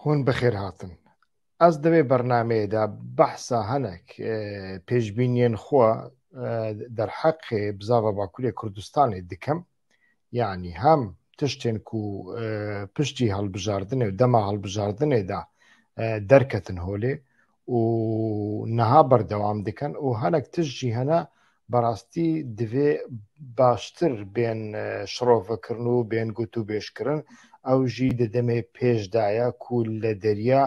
Hûn bi xêr hatin. Ez di vê bernameyê de behsa hinek pêşbîniyên xwe derheqê bizava Bakurê Kurdistanê dikim. Yanî hem tiştên ku piştî hilbijardinê û dema hilbijardinê de derketin holê û niha berdewam dikin û hinek tişt jî hene berastî divê baştir bên e, şirovekirin û bên gotûbêjkirin. Ew jî di demê pêş de ye ku li derya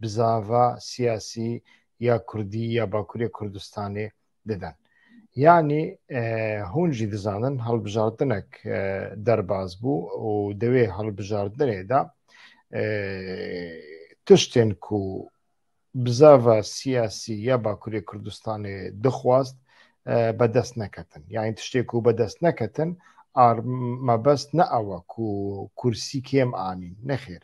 bi zava siyasî ya Kurdî ya Bakurê Kurdistanê didin. Yanî e, hûn jî dizanin hilbijartinek e, derbas bû û di wê hilbijartinê de e, tiştên ku bizava siyasî ya Bakurê Kurdistanê dixwast bi dest neketin. Yani tiştê ku bi dest neketin mebest ne ewa ku kursî kêm anîn. Nexêr.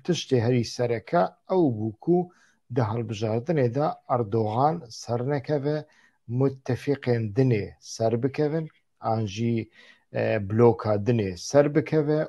Tiştê herî sereke ew bû ku di hilbijartinê de Erdogan sernekeve mutefîqên dinê serbikevin an jî bloka dinê serbikeve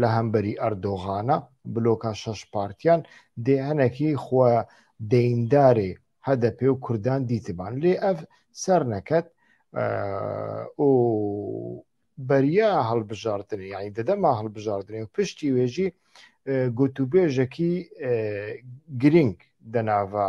li hemberî Erdoxana bloka şeş partiyan dê hinekî xwe deyndarê HDP û Kurdan dîtiban lê ev serneket û beriya hilbijartinê yanî di dema hilbijartinê û piştî wê jî gotûbêjekî girîng di nava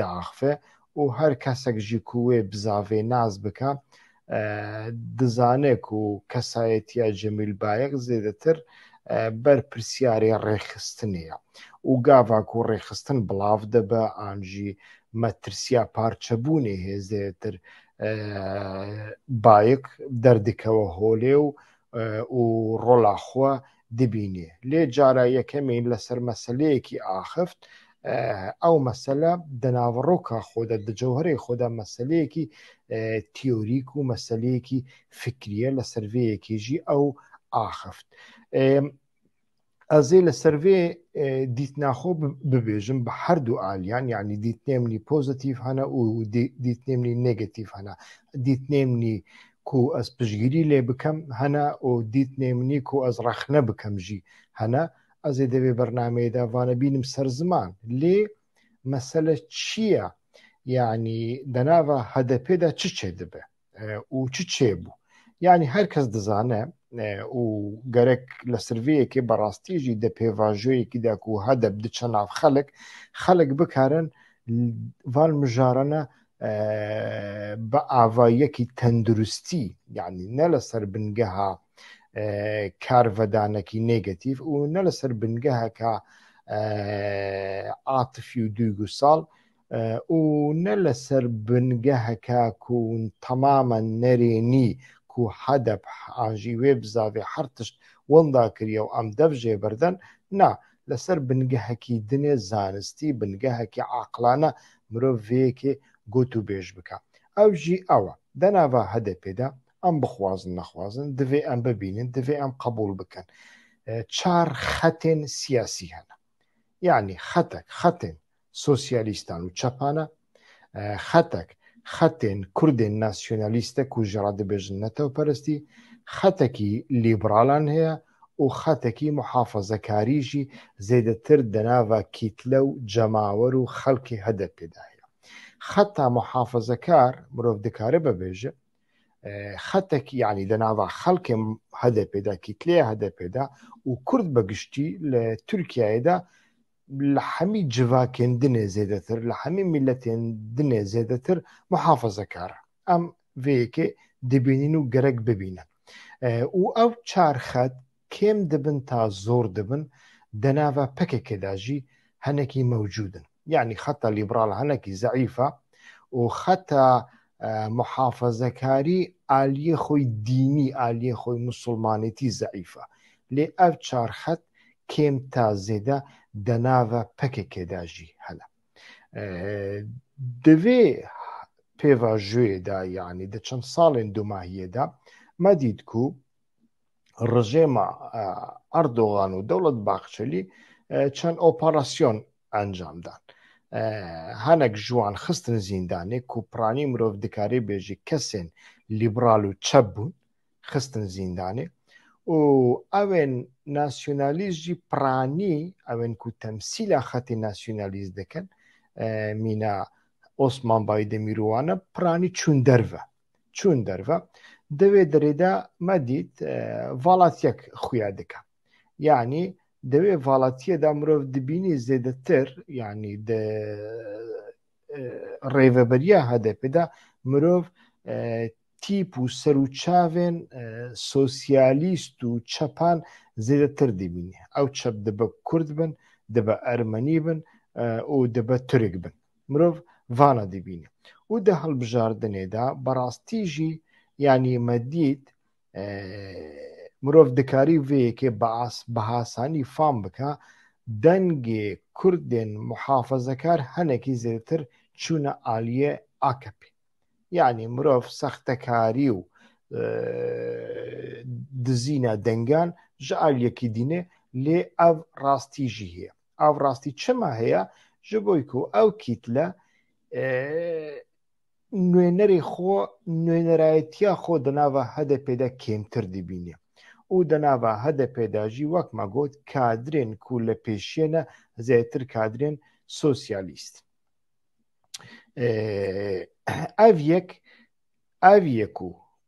diaxive û her kesek jî ku wê bi zavê nas bike dizane ku kesayetiya Cemîl Bayek zêdetir ber pirsyarê rêxistinê ye û gava ku rêxistin bilav dibe an jî metirsiya parçebûnê hê zêdetir Bayek derdikeve holê û û rola xwe dibînê. Lê cara yekemî li ser meseleyekî axift, ew mesele di naveroka xwe de, di cewherê xwe de meseleyekî teorîk û meseleyekî fikrî ye, li ser vê yekê jî ew axift. Ez ê li ser vê dîtina xwe bibêjim bi her du aliyan yanî dîtinê min nî pozîtîf hene û dîtinê min nî negatîf hene. Dîtinê min nî ku ez piştgirî lê bikim hene û dîtinê min nî ku ez rexne bikim jî hene. Ez ê di vê bernameyê de vane bînim ser ziman. Lê mesele çi ye? Yanî di nava HDP'ê de çi çêdibe? û çi çêbû. Yanî her kes dizane û gerek li sirviyekê bi rastî jî di pêvajoyekî de ku hedeb diçe nav xelik, xelik bikarin van mijarane bi avayekî tenduristî yanî ne li ser bingeha karvedanekî nêgetîf û ne li ser bingeheke atifî û duygusal û ne li ser bingeheke ku temamen nerênî ku HDP an jî wê bi zavê her tişt winda kiriye û em dev jê birden, na, li ser bingehekî din e, zanistî, bingehekî aqlane mirov vê yekê got û bêj bike. Ew jî ew e, di nava HDP'ê de em bixwazin nexwazin divê em bibînin, divê em qebûl bikin çar xetên siyasî hene. Yanî xetek, xetên sosyalîstan û çepan e. Xetek, xetên kurdên nasyonalîst e ku ji re dibêjin netewperestî, xetekî lîberalan heye û xetekî muhafezekarî jî zêdetir di nava kîtle û cemawer û xelkê HDP'ê de heye. Xeta muhafezekar mirov dikaribe bêje, xetekî yanî di nava xelkê HDP'ê de, kîtleya HDP'ê de û kurd bi giştî li Tirkiyeyê de li hemî civakên din ê zêdetir, li hemî mîletên din ê zêdetir muhafazekar e. Em vê yekê dibînin û gerek bibînin. Û ew çar xet kêm dibin ta zor dibin, di nava PKK'ê de jî hinekî mewcûd in. Yanî xeta lîberal hinekî zeîf e û xeta Muhafezekarî aliyê xwe dînî, aliyê xwe musulmanêtî zeîf e. Lê ev çar xet kêm ta zêde de nave pkk de jî hene. Di vê pêvajoyê de yanî di çend salên domahiyê de me dît ku rejêma Erdogan û Dewlet Bahçelî çend operasyon encam dan. Hinek ji wan xistin zîndanê ku piranî mirov dikarî bêjî kesên lîbral û çep bûn xistin zîndanê û evên nasyonalîst jî piranî evên ku temsîla xetê nasyonalîst dikin mîna Osman Baydemîr û wan e piranî çûn derve. Çûn derve. Di vê dirê de me dît valatyek xuya dike. Yanî di vê valatiyê de mirov dibînî zêdetir yanî di rêveberiya HDP'ê de mirov tîp û serûçavên sosyalîst û çepan zêdetir dibînî. Ew çep dibe kurd bin, dibe ermenî bin û dibe turik bin. Mirov vana dibîne û di hilbijardinê de bi rastî jî yanî me dît mirov dikarî vê yekê bi asanî fam bike dengê kurdên muhafazekar hinekî zêdetir çûne aliyê AKP'ê. Yanî mirov sextekarî û dizîna dengan ji aliyekî dîne lê ev rastî jî heye. Ev rastî çima heye? Ji bo ku ew kîtle nûnerê xwe nûnerayetiya xwe di nava HDP'ê de kêmtir dibîne û di nava HDP'ê de jî wek me got kadrên ku li pêşiyê ne zêdetir kadrên sosyalîst ev yek ev yek û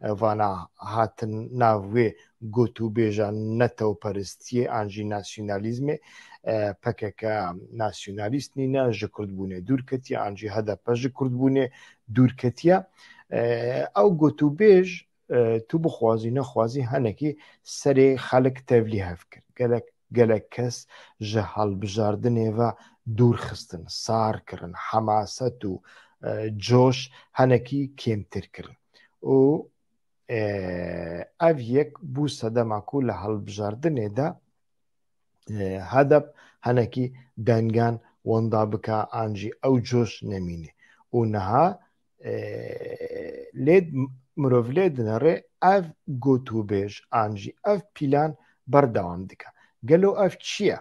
vana hatin nav wê got û bêja netewperistiyê an jî nasyonalîzmê. PKK nasyonalîst nîne, ji kurdbûnê dûr ketiye an jî hdp ji kurdbûnê dûr ketiye. Ew got û bêj tu bixwazî nexwazî henekî serê xelik tevlî hev kir. Gelek Gelek kes ji hilbijardinê ve dûr xistin, sar kirin, hemaset û coş hinekî kêmtir kirin û ev yek bû sedema ku li hilbijardinê de hdp hinekî dengan winda bike an jî ew coş nemîne û niha lêd mirov lê dinere ev gotûbêj an jî ev pîlan berdewam dike. Gelo ev çi ye?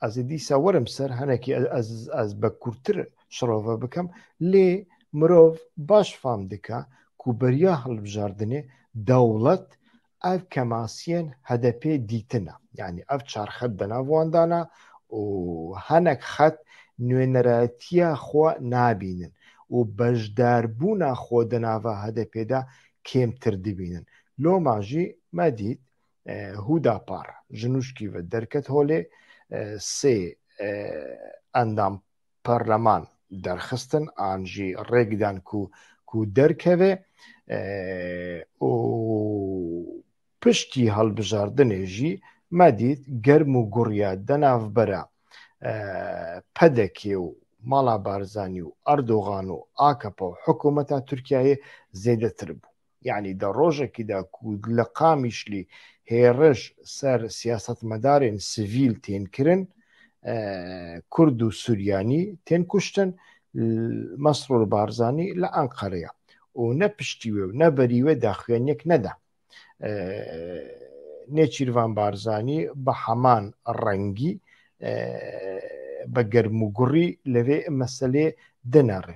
Ez ê dîsa werim ser henekî ez ez bi kurtir şirove bikim lê mirov baş fam dike ku beriya hilbijardinê dewlet Ev kemasiyên HDP'ê dîtine. Yanî ev çar xet di nav wan de ne û hinek xet nûênerayetiya xwe nabînin û beşdarbûna xwe di nava HDP'ê de kêmtir dibînin. Loma jî me dît Hûdapar ji nûşkî ve derket holê, sê endam parleman derxistin an jî rêkdan ku ku derkeve û piştî hilbijardinê jî me dît germ û gurya di navbera PDK'ê û mala Barzanî û Erdogan û AKP û hikûmeta Tirkiyeyê zêdetir bû. Yanî di rojekî de ku li Qamişlî hêriş ser siyasetmedarên sivîl tên kirin, Kurd û Suryanî tên kuştin, Mesrûr Barzanî li Enqere ye û ne piştî wê û ne berî wê daxuyaniyek neda. Nêçîrvan Barzanî bi heman rengî bi germûgurî li vê meselê dinere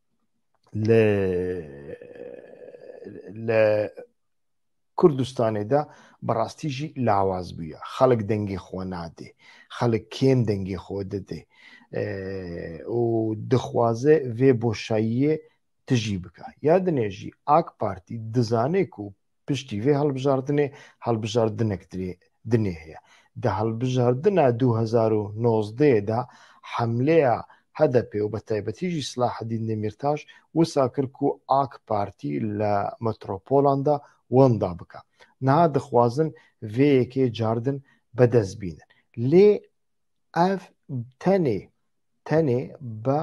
li li Kurdistanê de bi rastî jî lawaz bûye. Xelk dengê xwe nadê. Xelk kêm dengê xwe didê û dixwaze vê boşayiyê tijî bike. Ya dinê jî AK Partî dizane ku Piştî vê hilbijardinê hilbijardinek dinê heye. Di hilbijardina du hezar û nozdehê de hemleya HDP'ê û betaybetî jî Silahedîn Demîrtaş wisa kir ku ak partî li metropolan de wenda bike. Niha dixwazin vê yekê cardin bi dest bînin. Lê ev tenê tenê bi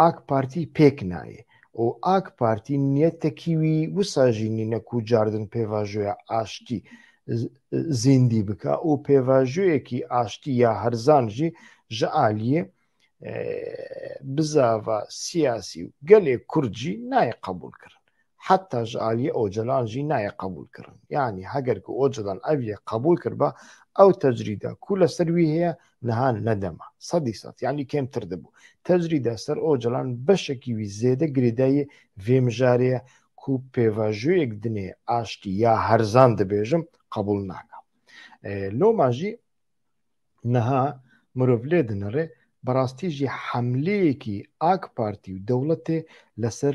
Ak Partî pêk nayê û Ak Partî niyetekî wî wisa jî nîne ku cardin pêvajoya aştî zîndî bike û pêvajoyekî aştî ya herzan jî ji aliyê bizava siyasî û gelê kurd jî nayê qebûlkirin. heta ji aliyê Ocalan jî nayê qebûlkirin. Yanî heger ku Ocalan ev yek qebûl kiriba, ew tecrîda ku li ser wî heye niha nedema. Sedî sed yanî kêmtir dibû. Tecrîda ser Ocalan beşekî wî zêde girêdayî vê mijarê ye ku pêvajoyek dinê aştî ya herzan dibêjim qebûl naka. Loma jî niha mirov lê dinire bi rastî jî hemleyekî Ak Partî û dewletê li ser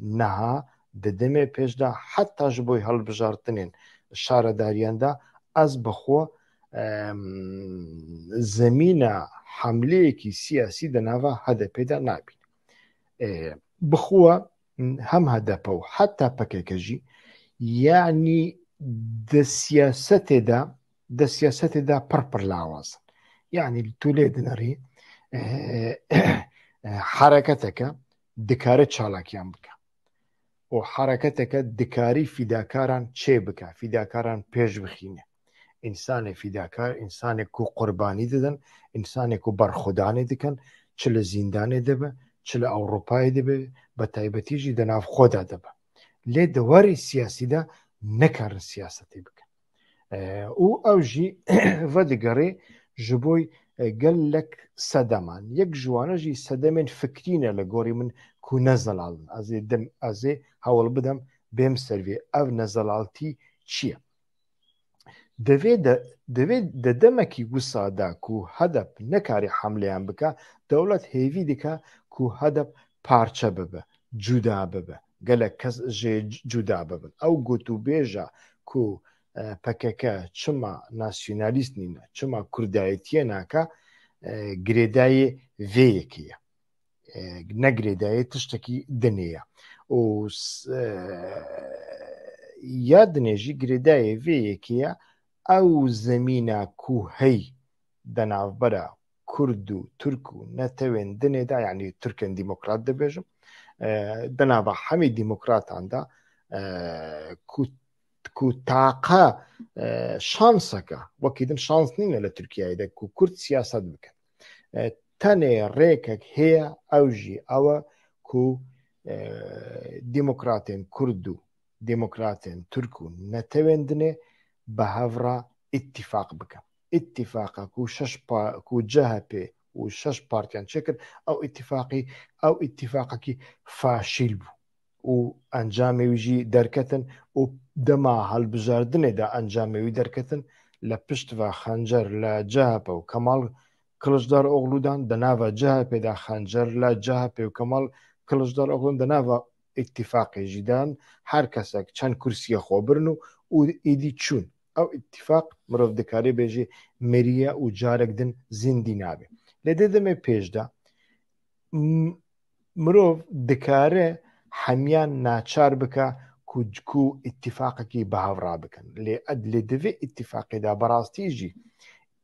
Niha di demê pêş de heta ji bo hilbijartinên şaredariyan de ez bi xwe zemîna hemleyekî siyasî di nava HDP'ê de nabînim. Bi xwe hem HDP û heta PKK jî yanî di siyasetê de di siyasetê de pir pir lawaz in. Yanî tu lê dinirî hereketeke dikare çalakiyan bike û hereketeke dikarî fîdakaran çê bike, fîdakaran pêş bixîne. Însanê fîdakar, însanê ku qurbanî didin, însanê ku berxwedanê dikin, çi li zîndanê de be, çi li Ewropayê de be, bi taybetî jî di nav xwe de de be. Lê di warê siyasî de nikarin siyasetê bikin. û ew jî vedigerê ji bo gelek sedeman. Yek ji wane jî sedemên fikrî ne li gorî min ku ne zelal in. Ez ê dim ez ê hewl bidim bêm ser vê ev nezelaltî çi ye? Divê de divê di demekî wisa de ku hedep nekarî hemleyan bike, dewlet hêvî dike ku hedep parçe bibe, cuda bibe. Gelek kes jê cuda bibin. Ew gotûbêja ku pkk çima nasyonalîst nîne, çima kurdayetiyê nake girêdayê vê yekê ye. Ne girêdayê tiştekî dinê ye. Û ya dinê jî girêdayê vê yekê ye ew zemîna ku hey di navbera Kurd û Tirk û netewên dinê de yanî Tirkên demokrat dibêjim di nava hemî demokratan de ku ku taqa şanseka wekî din şans nîne li Tirkiyeyê de ku Kurd siyaset bikin. Tenê rêkek heye ew jî ew e ku demokratên Kurd û demokratên Tirk û netewên dinê bi hev re îtîfaq bikin. îtîfaqa ku şeş ku CHP û şeş partiyan çêkir ew îtîfaqî ew îtîfaqekî faşîl bû û encamê wî jî derketin û dema hilbijardinê de encamê wî derketin li pişt ve xencer li CHP û Kemal Kiliçdaroglû dan di nava CHPê de xencer li CHP û Kemal Kiliçdaroglû di nava îtîfaqê jî dan her kesek çend kursiyê xwe birin û êdî çûn. Ew îtîfaq mirov dikarî bê jî mirî ye û carek din zîndî nabe. Lê di demê pêş de mirov dikare hemiyan naçar bike ku ku îtîfaqekî bi hev rabikin. Lê lê divê îtîfaqê de bi rastî jî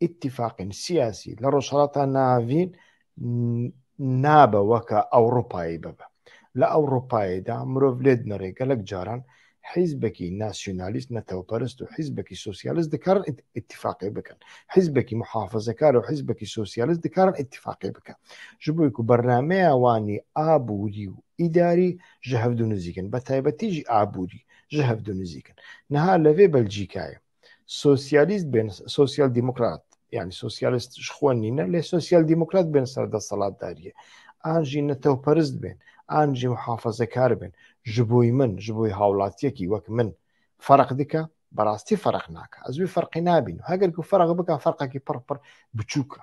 îtîfaqên siyasî li Rojhilata Navî nabe weke Ewropayê bibe. Li Ewropayê de mirov lê dinirê gelek caran hîzbekî nasyonalîst, netewperist û hîzbekî sosyalîst dikarin îtîfaqê bikin. Hîzbekî muhafizekar û hîzbekî sosyalîst dikarin îtîfaqê bikin. Ji bo ku bernameya wanî aborî û îdarî ji hev du nizîk in. Betaybetî jî aborî ji hev du nizîk in. Niha li vê Belcîkayê Sosyalist bên, sosyal demokrat yani sosyalist ji xwe nîne lê sosyal demokrat bên ser desthilatdariyê. An jî netewperist bên, an jî muhafazekar bên. Ji bo min, ji bo hawlatiyekî wek min ferq dike? Bi rastî ferq nake. Ez wî ferqê nabînim. Heger ku ferq bike ferqekî pir pir biçûk e.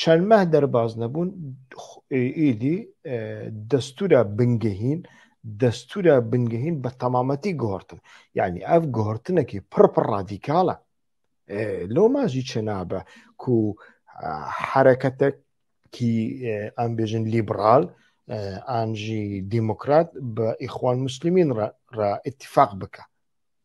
Çend meh derbas nebûn êdî destûra bingehîn destûra bingehîn bi temametî guhertin. Yanî ev guhertinekî pir pir radîkal e. Loma jî çinabe ku hereketekî em bêjin lîbral an jî demokrat bi îxwan muslîmîn re îtîfaq bike.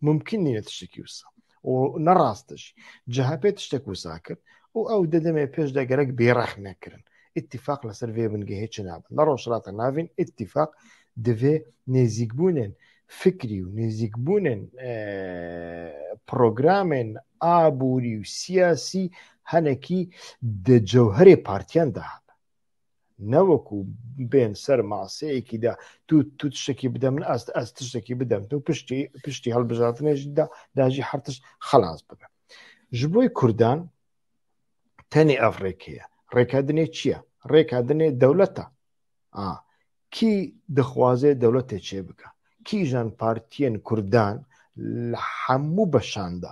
Mumkîn nîne tiştekî wisa. û ne rast e jî. CHP tiştek wisa kir û ew dê demê pêş de gerek bêrexme kirin. Îtîfaq li ser vê bingehê çi nabe? Li Rojhilata Navîn îtîfaq divê nêzîkbûnên fikrî û nêzîkbûnên programên aborî û siyasî hinekî di cewherê partiyan de habe. ne wekû bên ser maseyekî de tu tu tiştekî bide min ez ez tiştekî bide min tu piştî piştî hilbijartinê jî de de jî her tişt xelas bibe ji bo kurdan tenê ev rêkê ye rêka dinê çi ye rêka dinê dewlet e a kî dixwaze dewletê çê bike kîjan partiyên kurdan li hemû beşan de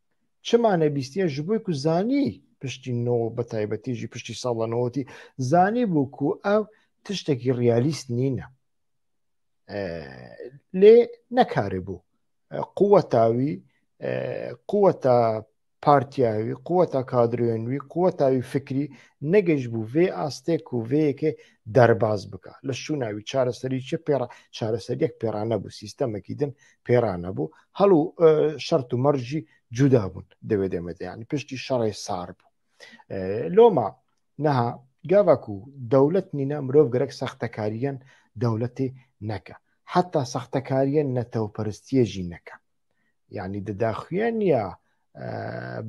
Çima nebîstiye ji bo ku zanî piştî no bi taybetî jî piştî sala newotî zanî bû ku ew tiştekî realîst nîne. Lê nekarê bû. Quweta wî quweta partiya wî quweta kadroyên wî quweta wî fikrî negeş bû vê astê ku vê yekê derbaz bika. Li şûna wî çareserî çi pêra çareseriyek pêra nebû sîstemekî din pêra nebû hal û şert û merc jî cuda bûn di wê demê de yani piştî şerê sar bû loma niha gava ku dewlet nîne mirov gerek sextekariyen dewletê neke heta sextekariyen netewperistiyê jî neke yani di daxuye niya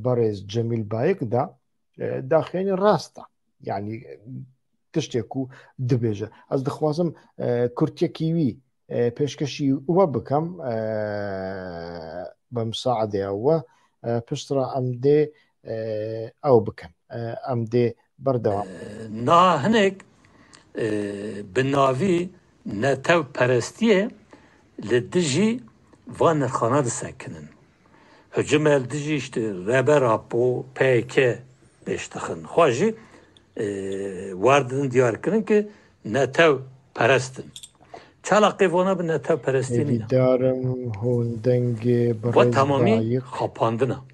berêz Cemîl Bayik da daxênî rast e yanî tiştê ku dibêje ez dixwazim kurtiyekî wî pêşkeşî we bikim bi misaedeya we piştra em dê ew bikin em dê berdewam na hinek bi navî netewperestiyê li dijî van nirxanan disekinin. Hicimel dijî işte Reber Apo, pkk pêş dixin. Xwe jî war didin diyar kirin ke netew perest in. Çala qey vana bi netew perestî nîne. Hêvîdarim hûn dengê birêz Dayik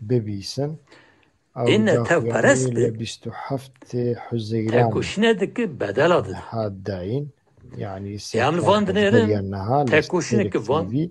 bibîsin. Ew daxuyanî li bîst û heftê Huzeyranê niha dayîn. Yanî serkerdên beriya niha li Stêrek TV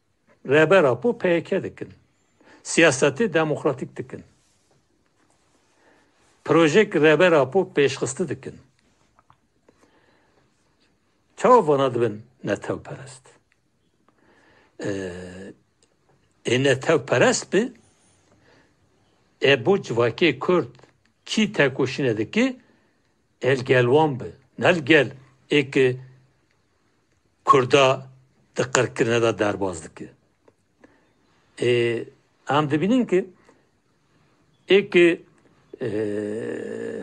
Rêber Apo peyeke dikin. Siyasetê demokratîk dikin. Projeyek Rêber Apo pêşxiste dikin. Çawa vana dibin netewperest? Ê netewperest bi ê bo civakê Kurd kî tekoşîne dike ê li gel wan bi. Ne li gel ê ki Kurda di qirkirine de derbas dike. Ê em dibînin ki êkê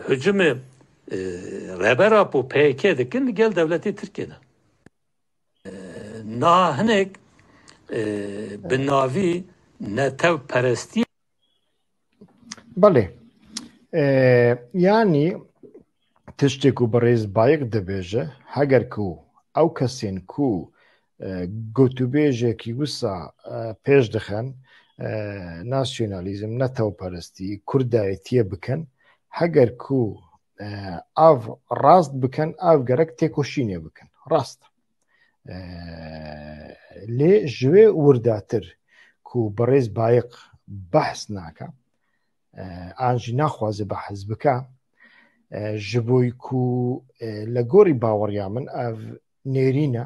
hicûmê Rehber Apo PYK dikin li gel dewletê Tirkiyê de. Niha hinek bi navî netewperestiyê Belê. Yanî tiştê ku birêz Bayik dibêje, heger ku ew kesên ku gotûbêjekî wisa pêş dixin, nasyonalîzm, netewperestî, kurdayetiyê bikin, heger ku ev rast bikin, ev gerek têkoşînê bikin. Rast e. lê ji wê wirdatir ku birêz Bayiq behs naka an jî naxwaze behs bike ji bo ku li gorî baweriya min ev nêrîne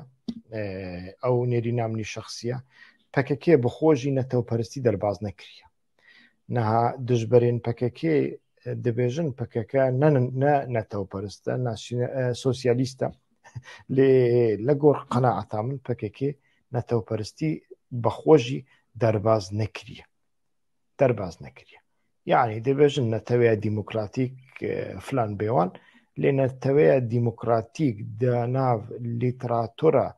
ew nêrîna min şexsiye PKK bi xwe jî netewperistî derbas nekiriye. Niha dijberên PKK'ê dibêjin PKK ne ne netewperist e, ne sosyalîst e. Lê li gor qenaeta min PKK netewperistî bi xwe jî derbaz nekiriye. Derbaz nekiriye. Yani dibêjin neteweya demokratîk filan bêwan lê neteweya demokratîk di nav lîteratura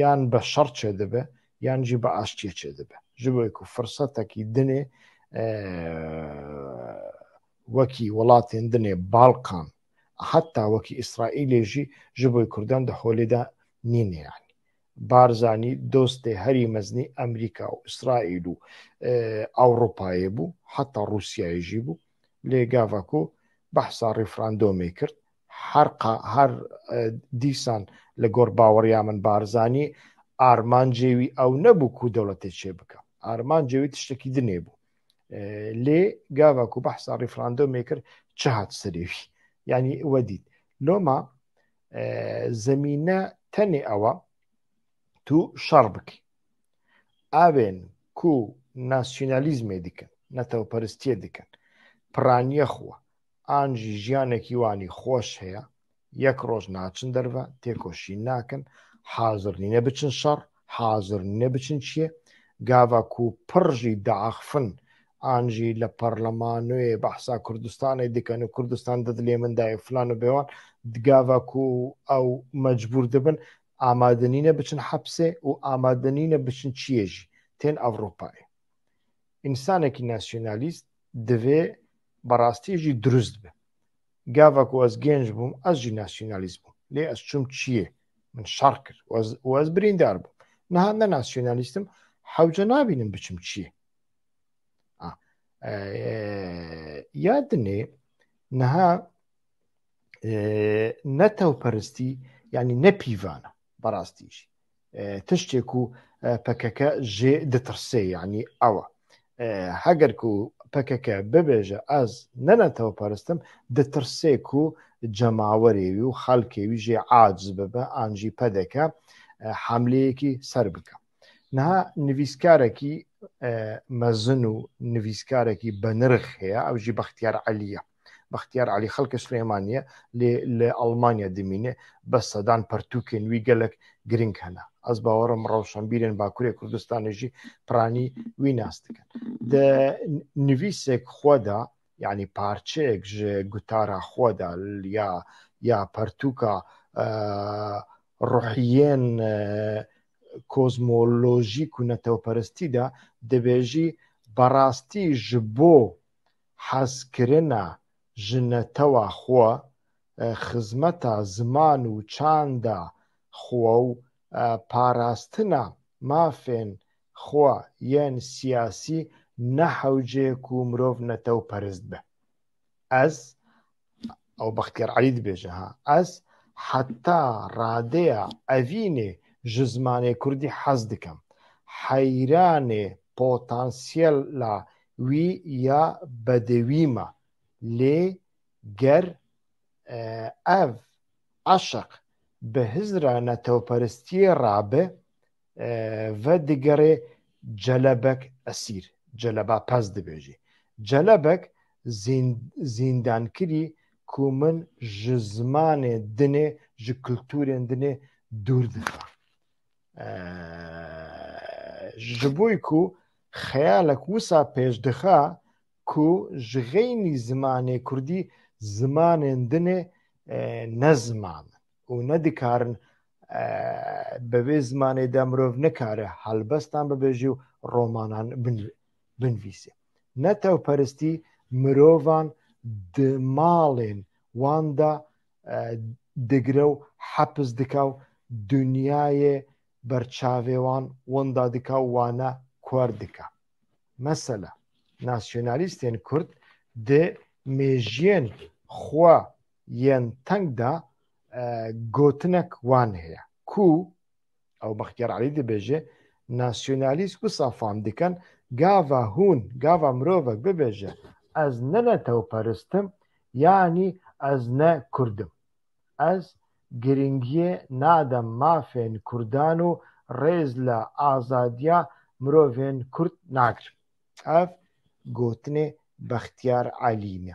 yan bi şer çêdibe yan jî bi aştiyê çêdibe ji bo ku firsetekî dinê wekî welatên dinê balkan heta wekî îsraîlê jî ji bo kurdan di holê de nîne yan Barzanî dostê herî meznî Amerîka û Îsraîl û e, Ewropayê bû heta Rûsyayê jî bû lê gava ku behsa referandomê kir Her ka her dîsan li gor baweriya min Barzanî armancê wî ew nebû ku dewletê çêbike. Armancê wî tiştekî din ê bû. Lê gava ku behsa rîfrandomê kir çi hat serê wî? Yanî we dît. Loma zemîne tenê ewa tu şer bikî. Evên ku nasyonalîzmê dikin, netewperistiyê dikin, piraniya xwe, an jî jiyanekî wan î xweş heye, yek roj naçin derve, têkoşîn nakin, hazir nîne biçin şer, hazir nîne biçin çiyê. Gava ku pir jî diaxifin an jî li parlemanoyê behsa Kurdistanê dikin û Kurdistan di dilê min de ye filan û bêwan, gava ku ew mecbûr dibin amade nîne biçin hepsê û amade nîne biçin çiyê jî, tên Ewropayê. Însanekî nasyonalîst divê bi rastî jî dirûst be. Gava ku ez gênc bûm ez jî nasyonalîst bûm. Lê ez çûm çiyê. Min şer kir û ez birîndar bûm. Niha ne nasyonalîst im hewce nabînim biçim çiyê. Ya dinê niha netewperistî yanî ne pîvan e bi rastî jî. Tiştê ku pkk jê ditirsê yanî ew e. Heger ku pkk bibêje ez ne netewperist im, ditirsê ku cemawerê wî û xelkê wî jê aciz bibe an jî pdk hemleyekî ser bike. Niha nivîskarekî mezin û nivîskarekî benirx heye ew jî Bextiyar Elî ye. Bextiyar Elî xelkê Silêmanî ye lê li Elmanya dimîne bes sedan pertûkên wî gelek girîng hene. Ez bawer im rewşenbîrên Bakurê Kurdistanê jî piranî wî nas dikin. Di nivîsek xwe de yanî parçeyek ji gutara xwe de ya ya pertûka ruhiyên kozmolojîk û netewperestî de dibêjî Berastî ji bo hezkirina ji netewa xwe, xizmeta ziman û çanda xwe û parastina mafên xwe yên siyasî ne hewceyek ku mirov netewperist be. Ez ew Bextiyar Elî dibêje ha ez heta radeya evînê ji zimanê kurdî hez dikim. Heyranê potansiyela wî ya bedewî me. Lê ger ev eşq bi hizra netewperistiyê re be vedigerê Celebek esîr, Celeba Pez dibêjî. Celebek zîndankirî ku min ji zimanê dinê, ji kulturên dinê dûr dixa. Ji bo ku xeyalek wisa pêş dixa ku ji xeynî zimanê kurdî zimanên dinê ne ziman in. û nedikarin bi vê zimanê de mirov nikare helbestan bibêjî û romanan binivîsê. Netewperistî mirovan di malên wan de digire û hepis dike û dinyayê ber çavê wan winda dike û wan kor dike. Mesela, nasyonalîstên kurd di mêjiyên xwe yên teng de gotinek wan heye ku ew Bextyar Elî dibêje, Nasyonalîst wisa fam dikin, gava hûn, gava mirovek bibêje ez ne netewperist im yanî ez ne kurd im. Ez girîngiyê nadim mafên kurdan û rêz li azadiya mirovên kurd nagirim. Ev gotinê Bextyar Elî ne.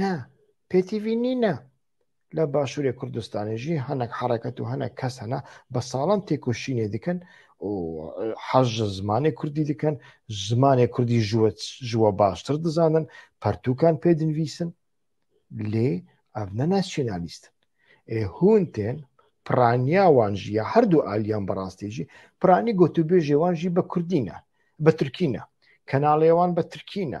Ne, pêtîvî nîne. Li Başûrê Kurdistanê jî hinek hereket û hinek kes hene bi salan têkoşînê dikin û hez ji zimanê Kurdî dikin, zimanê Kurdî ji we baştir dizanin, pertûkan pê dinivîsin. Lê ev ne nasyonalîst in. Ê hûn tên, piraniya wan jî ya her du aliyan bi rastî jî, piranî gotûbêjê wan jî bi Kurdî ne, bi Tirkî ne. Kenalê wan bi Tirkî ne.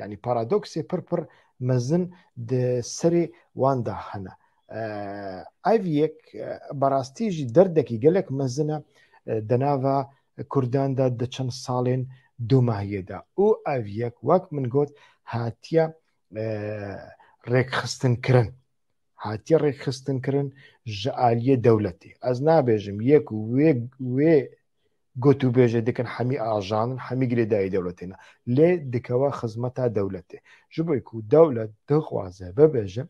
Yanî paradoksê pir pir mezin di serê wan de hene. Ev yek bi rastî jî derdekî gelek mezin e di nava Kurdan de di çend salên domahiyê de û ev yek wek min got hatiye rêkxistinkirin hatiye rêkxistinkirin ji aliyê dewletê. Ez nabêjim yek wê wê Gotûbêjê dikin hemî ajan in, hemî girêdayî dewletê ne. Lê dikeve xizmeta dewletê. Ji bo ku dewlet dixwaze bibêje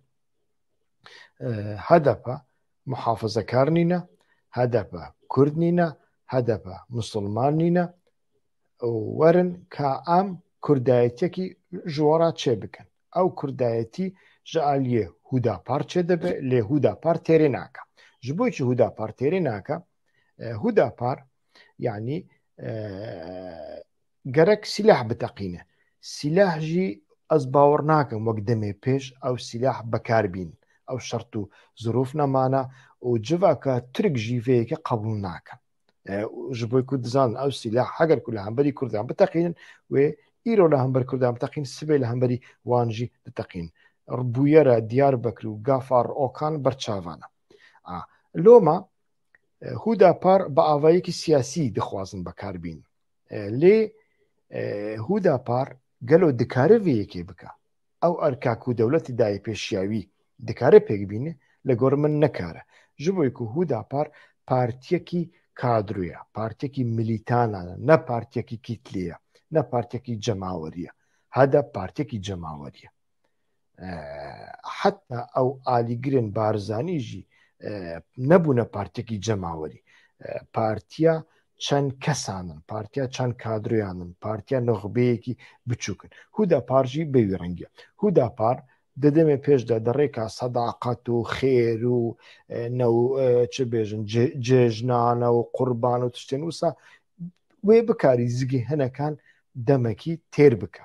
hdp muhafizekar nîne, hdp kurd nîne, hdp misilman nîne û werin ka em kurdayetiyekî ji we re çêbikin. Ew kurdayetî ji aliyê Hûdapar çêdibe lê Hûdapar têrê nake. Ji bo ku Hûdapar têrê nake Hudapar yanî gerek sîlah biteqîne. Sîlah jî ez bawer nakim wek demê pêş ew sîlah bekar bîn. Ew şert û zirûf nemana û civaka Tirk jî vê yekê qebûl nake. Ji bo ku dizanin ew sîlah heger ku li hemberî Kurdan biteqînin wê îro li hember Kurdan biteqîn sibê li hemberî wan jî diteqîn. Bûyera Diyarbekir û Gafar Okan berçavan e. Loma Hûdapar bi avayekî siyasî dixwazin bekar bîn. Lê Hûdapar gelo dikare vê yekê bike? Ew erka ku dewletê dayê pê şiyawî dikare pêk bîne? Li gor min nekare. Ji bo ku Hûdapar partiyekî kadro ye, partiyekî milîtanan e, ne partiyekî kîtlê ye, ne partiyekî cemawerî ye. Hedep partiyekî cemawerî ye. heta ew alîgirên Barzanî jî nebûne partekî cemawerî partiya çend kesan in partiya çend kadroyan in partiya nuxbeyekî biçûk in hûdapar jî bê wî rengiya hûdapar di demê pêş de di rêka sedaqet û xêr û çi bêjin cejnane û qurban û tiştên wisa wê bikarî zigî hinekan demekî têr bike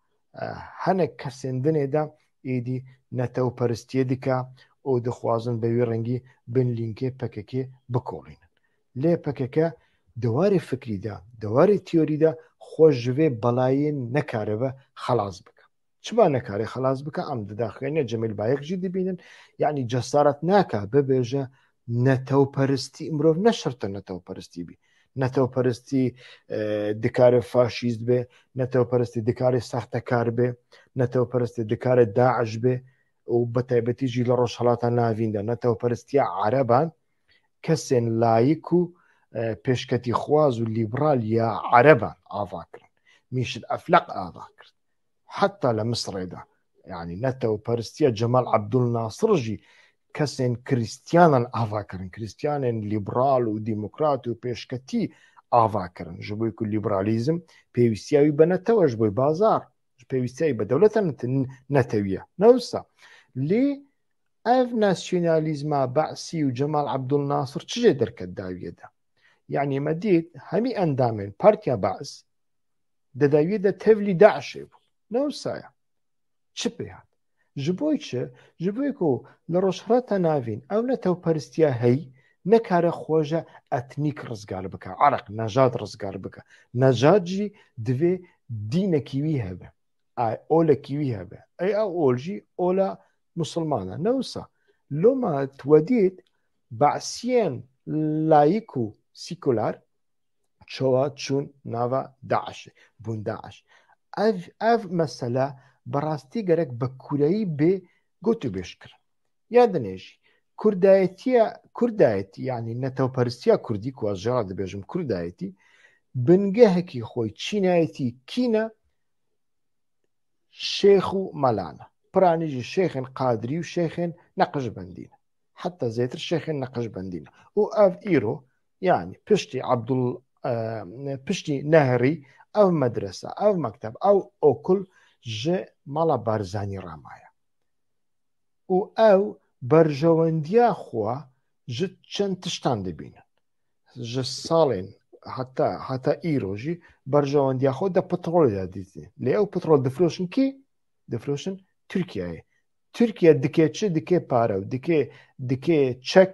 hinek kesên din ê de êdî netewperistiyê dike û dixwazin bi wî rengî bin lînkê pkk bikolînin. Lê pkk di warê fikrî de, di warê teorî de xwe ji vê belayê nekaribe xelas bike. Çima nekare xelas bike? Em di daxuyanîya Cemîl Bayik jî dibînin. Yanî cesaret nake bibêje Netewperistî mirov ne şerta netewperistî bî. Netewperistî dikare faşîst be, netewperistî dikare sextekar be, netewperistî dikare DAIŞ be û bi taybetî jî li Rojhilata Navîn de netewperistiya ereban kesên layik û pêşketîxwaz û lîbral ya ereban ava kirin. Mîşil Efleq ava kir. heta li Misirê de yanî ne tewperstiya Cemal Abdul Nasir jî kesên krîstiyanan ava kirin krîstiyanên lîbral û demokrat û pêşketî ava kirin ji bo ku lîbralîzm pêwîstiya wî bi netewe ji bo bazar pêwîstiya wî bi dewleta netewiye newsa lê ev nasyonalîzma Be'sî û Cemal Abdul Nasir çi jê derket dawiye de yanî me dît hemî endamên partiya Be's Di dawiyê de tevlî DAIŞ'ê bû. Ne wisa ye. Çi pê hat? Ji bo çi? Ji bo ku li Rojhilata Navîn ew netewperistiya heyî nekare xweja etnîk rizgar bike, irq, nejad rizgar bike. Nejad jî divê dînekî wî hebe, olekî wî hebe. Ey ew ol jî ola Musilman e. Ne wisa. Loma tu we dît Be'siyên layîk û sîkular, çawa çûn nava DAIŞ'ê, bûn DAIŞ. Ev ev mesele bi rastî gerek bi kureyî bê gotûbêj kirin. Ya dinê jî kurdayetiya kurdayetî yanî netewperstiya kurdî ku ez jê re dibêjim kurdayetî bingehekî xwe çînayetî kîne şêx û melan e. Piranî jî şêxên qadirî û şêxên neqijbendî ne. Heta zêtir şêxên neqijbendî ne. Û ev îro Yanî piştî Abdul piştî Nehrî ev medrese, ev mekteb, ew okul ji mala Barzanî re maye. û ew berjewendiya xwe ji çend tiştan dibînin. Ji salên heta heta îro jî berjewendiya xwe de petrolê de dîtî. Lê ew petrol difiroşin kî? Difiroşin Tirkiyeyê. Tirkiye dike çi? Dike pare û dike dike çek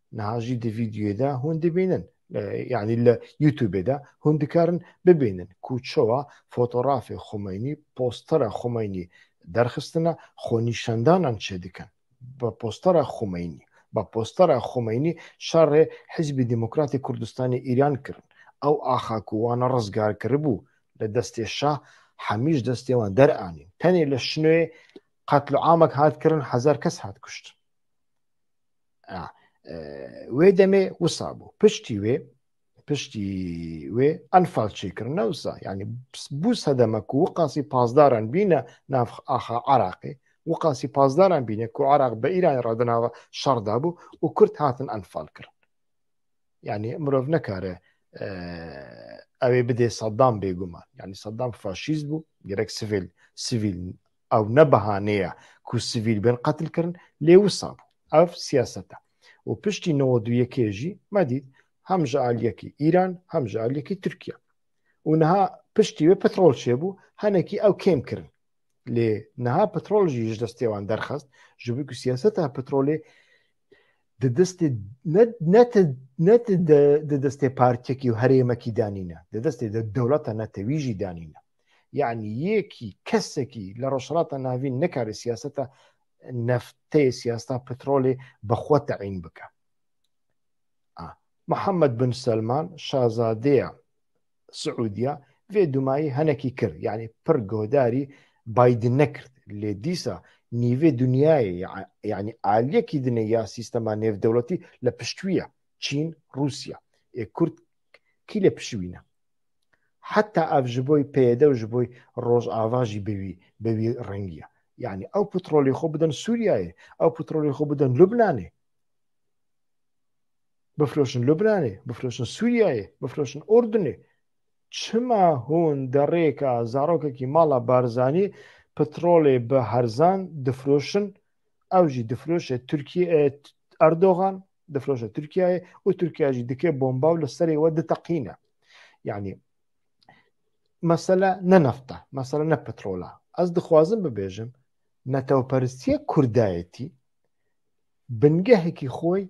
Niha jî di vîdyoyê de hûn dibînin yanî li YouTubeê de hûn dikarin bibînin ku çawa fotorafê Xumeynî, postera Xumeynî derxistine xwenîşandanan çêdikin. Bi postera Xumeynî bi postera Xumeynî şerê Hîzbî Demokratê Kurdistanê Îran kirin. Ew axa ku wan rizgar kiribû li destê şah hemî ji destê wan deranîn. Tenê li Şinoyê qetliamek hat kirin hezar kes hat kuştin. wê demê wisa bû piştî wê piştî wê enfal çêkirin ne wisa yanî bû sedeme ku û qasî pazdaran bîne nav axa Iraqê û qasî pazdaran bîne ku Iraq bi Îranê re di nava şer de bû û Kurd hatin enfal kirin yanî mirov nekare ew ê bidê Saddam bêguman yanî Saddam faşîst bû gerek sivil sivîl Ew ne behane ye ku sivîl bên qetilkirin lê wisa bû. Ev siyaset e. Û piştî newed û yekê jî me dît hem ji aliyekî Îran hem ji aliyekî Tirkiye. Û niha piştî wê petrol çêbû henekî ew kêm kirin. Lê niha petrol jî ji destê wan derxist ji ber ku siyaseta petrolê di destê ne di destê partiyekî û herêmekî de nîne. Di destê dewleta netewî jî de nîne. Yani yekî kesekî li Rojhilata Navîn nikare siyaseta neftê siyaseta petrolê bi xwe teyîn bike. Muhammed bin Selman şazadeya Siûdiya vê dumayî henekî kir yani pir guhdarî Biden nekird lê dîsa nîvê dunyayê yani aliyekî dine ya sîstema nêvdewletî li pişt wî ye Çîn, Rûsya. Ê Kurd kî lê pişivîne? Heta ev ji boî PYD û ji boî Rojava jî bi wî bi wî rengî ye. Yanî ew petrolê xwe bidin Sûriyeyê, ew petrolê xwe bidin Lubnanê. Bifroşin Lubnanê, bifroşin Sûriyeyê, bifroşin Urdunê. Çima hûn derêka zarokekî mala Barzanî petrolê bi herzan difroşin, ew jî difroşe Tirkiye Erdogan, difiroşe Tirkiyeyê û Tirkiye jî dike bomba û li serê we diteqîne. Yanî mesele ne nefta, mesele ne petrola. Ez dixwazim bibêjim netewperstiye kurdayetî bingehekî xwe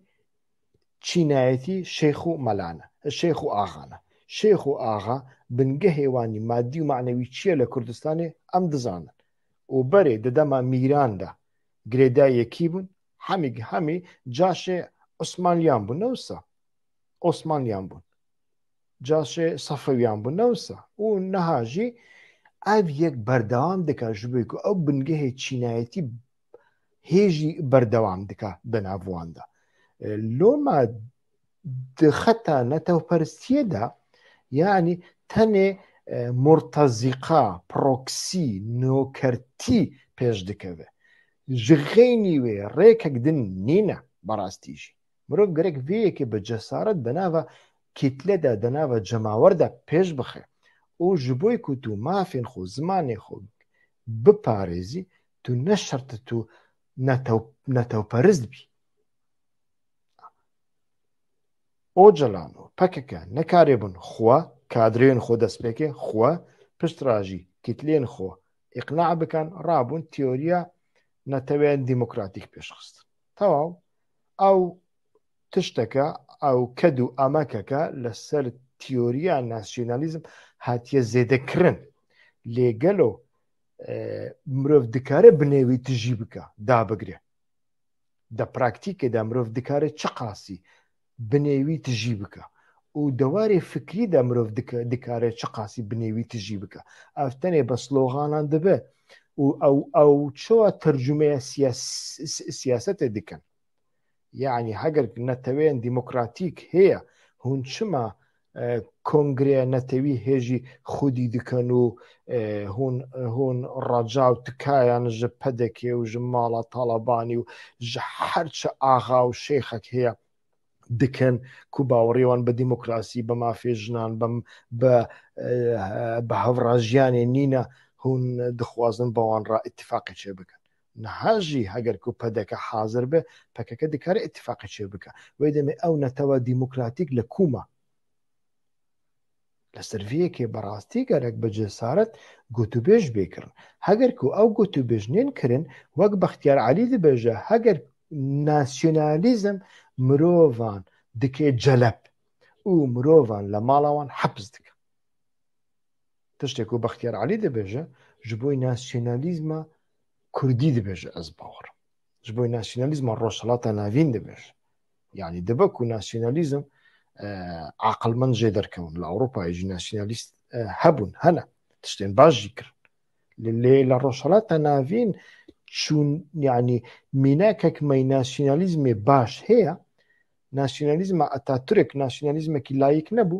çînayetî şeyx û melane, şeyx û axane. Şeyx û axa bingehê wanî madî û manewî çi ye li Kurdistanê em dizanin. û berê di dema mîran de girêdayê yekî bûn, Hemî hemî caşê Osmanliyan bûn ne wisa. Osmanliyan bûn. Caşê Safewiyan bûn ne wisa. Û niha jî ev yek berdewam dika ji bo ku ew bingehê çînayetî hê jî berdewam dika di nav wan de. Loma di xeta netewperstiyê de yanî tenê e, murtezîqa, proksî, nokertî pêş dikeve. Ji xeynî wê rêkek din nîne berastî jî. Mirov gerek vê yekê bi cesaret di nava kîtle de, di nava cemawer de pêş bixe û ji bo ku tu mafên xwe, zimanê xwe biparêzî, tu ne şerti tu netewperist bî. Ocalan û pkk nekarîbûn xwe, kadreyên xwe destpêkê xwe, piştrajî kîtleyên xwe îqna bikin, rabûn teoriya neteweyên demokratîk pêşxistin. Tewaw, ew tişteke, ew ked û emekeke li ser teoriya nasyonalîzm hatiye zêdekirin. Lê gelo mirov dikare bi nêwî tijî bike, dabigire? Di praktîkê de mirov dikare çiqasî binê wî tijî bike û di warê fikrî de mirov dikare çiqasî binê wî tijî bike. Ev tenê bi sloganan dibe û ew ew çawa tercumeya siyasetê dikin? Yanî heger neteweyên demokratîk heye hûn çima Kongreya Netewî hê jî xwedî dikin û hûn hûn reca û tikayan ji PDK û ji mala Talabanî û ji her çi axa û şêxek heye dikin ku bawerî wan bi demokrasî, bi mafê jinan, bi bi hevrajiyanê nîne hûn dixwazin bi wan re îtîfaqê çêbikin. Niha jî heger ku pdk hazir be, pkk dikare îtîfaqê çê bike. Wê demê ew netewa demokratîk li ku ma? Li ser vê yekê bi rastî gerek bi cesaret gotûbêj bê kirin. Heger ku ew gotûbêj nên kirin, wek Bextiyar Elî dibêje heger nasyonalîzm mirovan dike celep û mirovan li mala wan hepis dike. Tiştê ku Bextiyar Elî dibêje ji bo nasyonalîzma Kurdî dibêje ez bawer ji bo nasyonalîzma Rojhilata Navîn dibêje. Yanî dibe ku nasyonalîzm aqilmend jê derkewin li Ewropayê jî nasyonalîst hebûn hene tiştên baş jî kirin. Li lê li Rojhilata Navîn çûn yanî mînakek me nasyonalîzmê baş heye nasyonalîzma Ataturk nasyonalîzmekî layîk nebû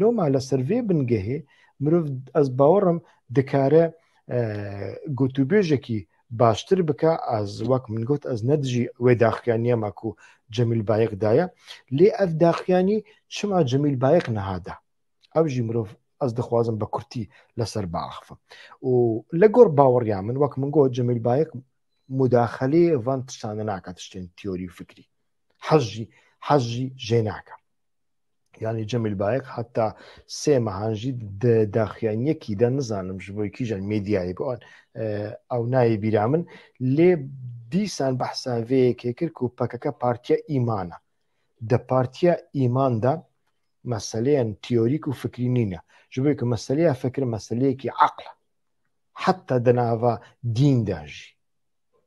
Loma li ser vê bingehê mirov ez bawerim dikare gotûbêjekî baştir bike ez wek min got ez ne dijî wê daxiyaniya me ku Cemîl Bayiq daye lê ev daxiyanî çima Cemîl Bayiq niha da ew jî mirov ez dixwazim bi kurtî li ser biaxivim û li gor baweriya min wek min got Cemîl Bayiq mudaxilê van tiştan nake tiştên teorî û fikrî hez jî hez jî jê nake yanî Cemîl Bayek heta sê mehan jî di daxuyaniyekî de nizanim ji bo kîjan medyayê bi ew nayê bîra min lê dîsan behsa vê yekê kir ku PKK partiya îman e di partiya îman de meseleyên teorîk û fikrî nîne ji bo ku meseleya fikir meseleyekî eql heta di nava dîn de jî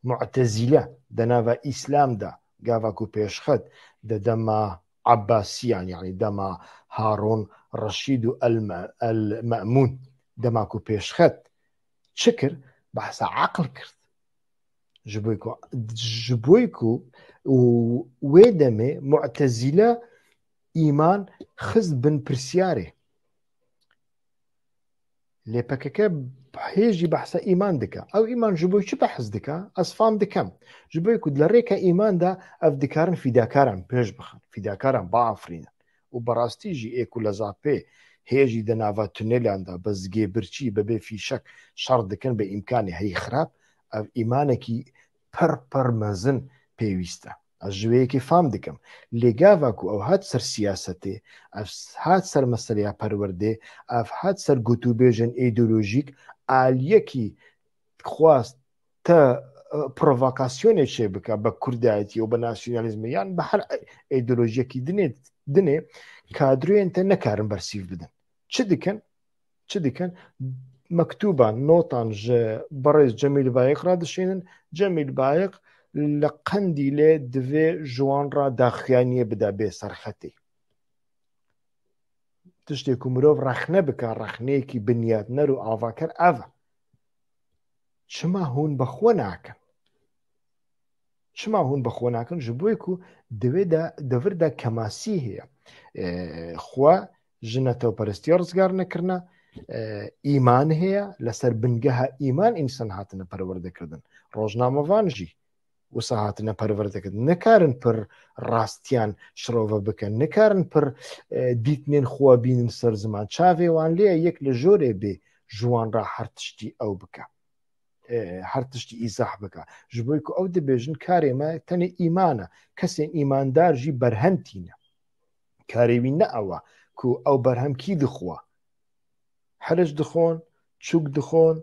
Mu'tezîle di nava Îslam de gava ku pêşxet di dema Abbasîyan yanî dema Harûn Reşîd û El Me'mûn dema ku pêşxet çi kir behsa eql kir ji bo ku ji bo ku û wê demê Mu'tezîle îman xist bin pirsîyarê. Lê PKK hê jî behsa îman dike. Ew îman ji bo çi behs dike? Ez fam dikem. Ji bo ku di rêka îman de ev dikarin fîdakaran pêş bixin, fîdakaran biafirînin. Û bi rastî jî ê ku li ZAP hê jî di nava tunêlan de bi zgê birçî, bi bê fîşek şer dikin bi îmkanê heyî xirab, ev îmanekî pir pir mezin pêwîst e. Ez ji wê yekê fam dikim. Lê gava ku ew hat ser siyasetê, ev hat ser meseleya perwerdê, ev hat ser gotûbêjên îdeolojîk, aliyekî dixwast te provokasyonê çêbike bi kurdayetî û bi nasyonalîzmê yan bi her îdeolojiyekî dinê dinê kadroyên te nekarin bersîv bidin. Çi dikin? çi dikin? Mektûban, notan ji berêz Cemîl Bayiq re dişînin. Cemîl Bayiq li Qendîlê divê ji wan re daxuyaniyê bide bê serxetê. Tiştê ku mirov rexne bike, rexneyekî binyatner û avaker ev e. Çima hûn bi xwe nakin? Çima hûn bi xwe nakin? Ji bo ku di vê de devir de kemasî heye. Xwe ji netewperestiya rizgar nekirine, îman heye, li ser bingeha îman însan hatine perwerdekirin. Rojnamevan jî wisa hatine perwerdekirin. Nikarin pir rastiyan şirove bikin, nikarin pir dîtinên xwe bînin ser ziman. Çavê wan lê ye yek li jorê bê ji wan re her tiştî ew bike. Her tiştî îzah bike. Ji bo ku ew dibêjin karê me tenê îman e. Kesên îmandar jî berhev tîne. karê wî ne ew e ku ew berhem kî dixwe. Hiriç dixwin, çûk dixwin,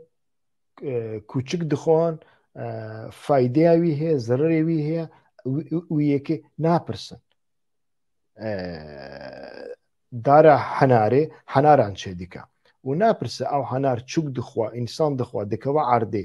kûçik dixwin, faydeya wî heye, zererê wî heye û yekê napirsin. Dara henarê henaran çêdike û napirse ew henar çûk dixwe, însan dixwe, dikeve erdê,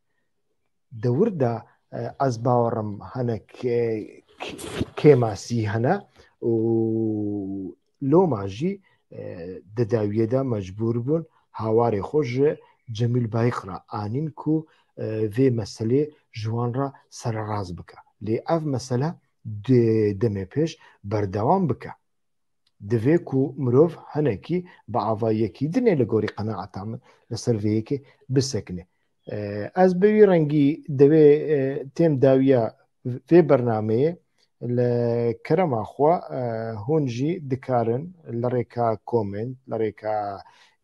Di wir de ez bawerim hinek kêmasî hene û loma jî di dawiyê de mecbûr bûn hawarê xwe ji Cemîl Bayik re anîn ku vê meselê ji wan re sererast bike. Lê ev mesele dê demê pêş berdewam bike. Divê ku mirov hinekî bi ava yekî di ne li gorî qenaeta min li ser vê yekê bisekine. Ez bi wî rengî divê têm dawiya vê bernameyê li kerema xwe hûn jî dikarin li rêka komênt li rêka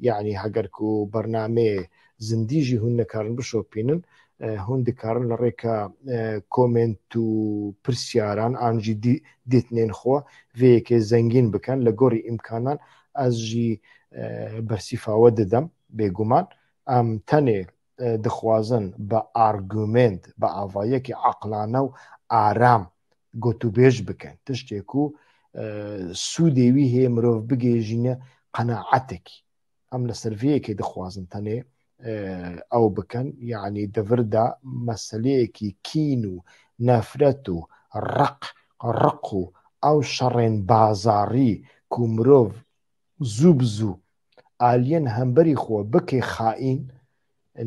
yanî heger ku bernameyê zindî jî hûn nikarin bişopînin, hûn dikarin li rêka komênt û pirsyaran an jî dîtnên xwe vê yekê zengîn bikin. Li gorî îmkanan ez jî bersîfa we didim. Bêguman em tenê dixwazin bi argumênt, bi avayekî eqlane û aram gotûbêj bikin. Tiştê ku sûdê wî heye mirov bigihêjîne qenaetekî. em li ser vê yekê dixwazin tenê ew bikin yanî di vir de meseleyekî kîn û nefret û req riq û ew şerên bazarî ku mirov zû bi zû aliyên hemberî xwe bike xaîn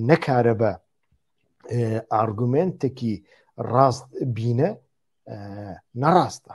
nekaribe argumentekî rast bîne nerast e.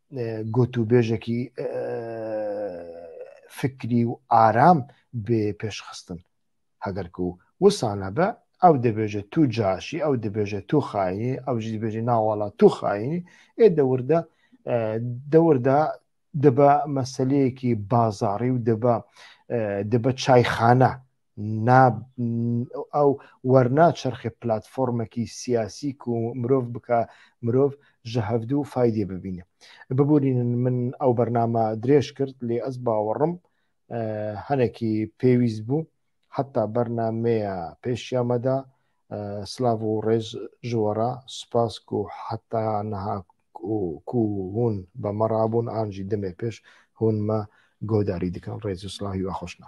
gotûbêjekî fikrî û aram bê pêşxistin. Heger ku wisa nebe, ew dibêje tu caş î, ew dibêje tu xayîn î, ew jî dibêje na wala tu xayîn î, ê dewir de dewir de dibe meseleyekî bazarî û dibe dibe çayxane. ew wernaçerxe platformekî siyasî ku mirov bike mirov ji hevdu faydê bibîne. Biborînin min ew bername dirêj kir lê ez bawerim hinekî pêwîst bû. Heta bernameya pêşiya me de silav û rêz ji we re. Spas ku heta niha ku hûn bi me re bûn an jî demê pêş hûn me guhdarî dikin. Rêz û silav hiwe xweş ne.